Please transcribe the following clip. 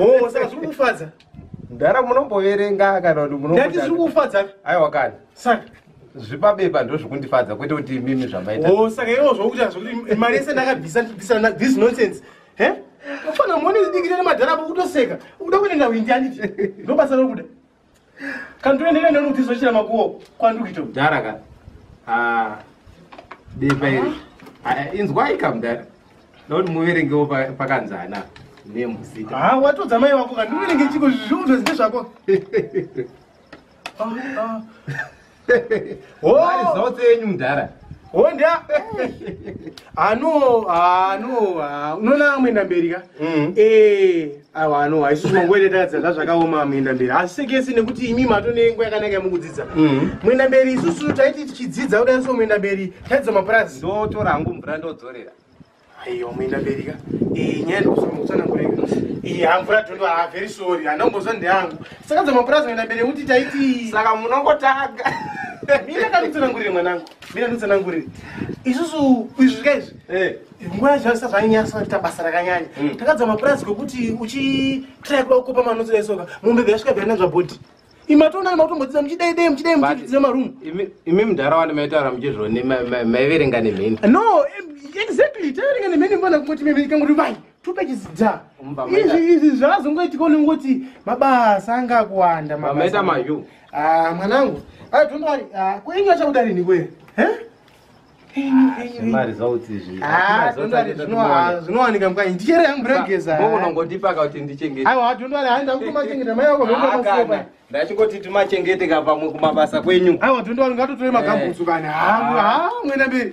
oh saka zviri kufadza mdhara munomboverenga kana kuti munondati zviri kufadza aiwa kana saka zvipabeba ndo zvekundifadza kwete kuti mimi zvamaita oh, saka iwo zvokuti hazvokuti mari yese ndakabvisa ndibvisa this nonsense he kufana mone zidikire nemadhara apo kutoseka ukuda kuenda ndawindi anditi ndobasa rokuda kandiendere neni kuti zochira makuwo kwandikuita mudhara ka ah, bepa iri ah, inzwai ka mudhara ndakuti muverengewo pakanzana nemuzita ah, watodza mai wako kandiverenge chiko zviundo zine zvako Mari oh! zotse yenyu mudhara. Honda. Ano, ano, unoona amwenda mberi ka? Mm. Eh, awa ano, haisi chimangwele tadza zvazvakaoma amwenda mberi. Asi kesi nekuti imi matone nguva yakanaka mukudzidza. Mm. Mwenda mberi isusu taiti tichidzidza kudai so mwenda mberi tadza maprazi. Ndotora hangu mvura ndodzorera. aiwa muenda mberi ka iyi nyaya ndikuzama kutsanangureka iyi hamvura dhondo haa very sorry handina kumboziva ndeyangu saka dzamapurazi muenda mberi nekuti taiti saka munongotanga mina kanditsanangurire mwanangu mina nditsanangurire isusu izvi zvika izvi eh. nguva yacho aisa zvainyasa kuita basa rakanyanya hmm. takadza mapurazi kwekuti uchitrai kuda kukopa manotsi daisoka mombe dzasvika byanazvabhodhi imatonani mautombodzidza muchidei dei muchidei muchidzidza maroom imi mudhara wani maitaura muchizvoni maiverenga nemheni no exactly taiverenga nemheni mvana kungoti mheni ikangoti vai two pages dha izvi izvi zvazongoitika unongoti mabasa anga akuwanda mamaita mayu ah, mwanangu ai ah, dondari ah, kuinyu achakuda rini kwe zvemari zvauti izvi Ah, don't worry, zvinowa- zvinowanika mukanya ndichere yangu ndogeza unongondipaka kuti ndichengete aiwa don't worry hayi ndakutomachengeta mai wako Ah, kana. zvinoa ndachingoti timachengeteka pamwe kumabasa kwenyu aiwa don't worry ngatotore magambutsu kana hangu ha mwena mberi